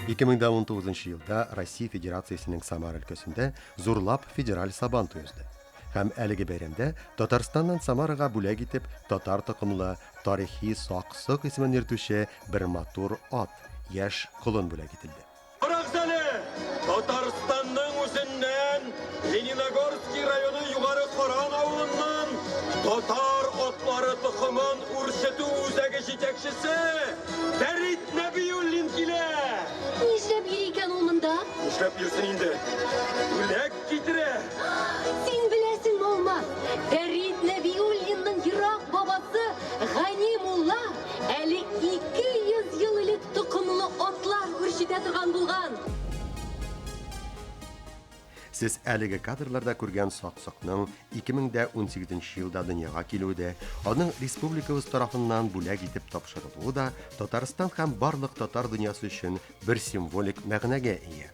2019 елда Россия Федерациясенең Самар өлкәсендә зурлап федераль сабан туе узды. Һәм әлеге бәйрәмдә Татарстаннан Самарага бүләк итеп татар токымлы тарихи сак-сок исемен йөртүче бер матур ат, яшь колын бүләк ителде. Карагыз әле, Татарстанның үзеннән Лениногорский районы Югары Каран авылыннан татар атлары токымын үрчетү үзәге җитәкчесе Фәрит Нәбиуллин килә! Нишләп йөри икән ул монда? Нишләп йөрсен инде, бүләк китерә! Син беләсеңме, Алмаз, Фәрит Нәбиуллинның ерак бабасы Гани мулла әле 200 ел элек токымлы атлар үрчетә торган булган. Сез әлеге кадрларда күргән Саксыкның 2018 нче елда дөньяга килүе дә, аның республикабыз тарафыннан бүләк итеп тапшырылуы да Татарстан һәм барлык татар дөньясы өчен бер символик мәгънәгә ия.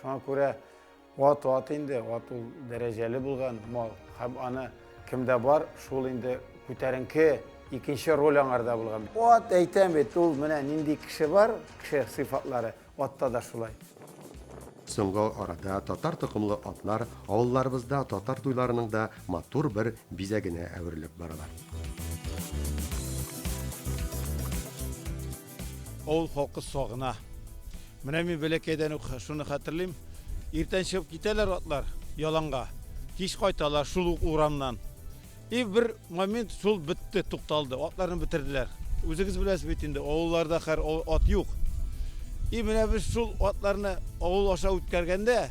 Шуңа күрә ат ат инде, ат ул дәрәҗәле булган мал. Һәм аны кемдә бар, шул инде күтәренке икенче роль аңарда булган. Ат әйтәм бит, ул менә нинди кеше бар, кеше сыйфатлары, атта да шулай. Соңгы арада татар токымлы атлар авылларыбызда татар туйларының да матур бер бизәгенә әверелеп баралар. Авыл халкы сагына. Менә мин бәләкәйдән үк шуны хәтерлим. Иртән чыгып китәләр атлар яланга. Кич кайталар шул ук урамнан. И бер момент шул бетте, тукталды. Атларны бетерделәр. Үзегез беләсез бит инде, авылларда хәр ат юк. И менә без шул атларны авыл аша үткәргәндә,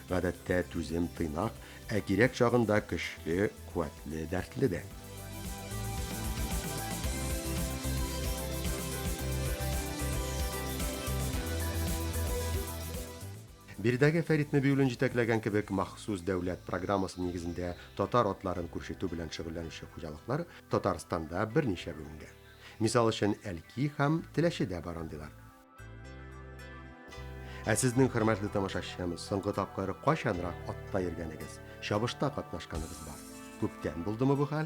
Гадәттә түзем тыйнак, ә кирәк чагында көчле, куәтле, дәртле дә. Биредәге Фәрит Нәбиуллин җитәкләгән кебек махсус дәүләт программасы нигезендә татар атларын күрсәтү белән шөгыльләнүче хуҗалыклар Татарстанда берничә бүленгән. Мисал өчен, Әлки һәм Теләчедә бар андыйлар. Ә сезнең хөрмәтле тамашачыбыз соңгы тапкыр качанрак атта йөргәнегез, чабышта катнашканыгыз бар? Күптән булдымы бу хәл?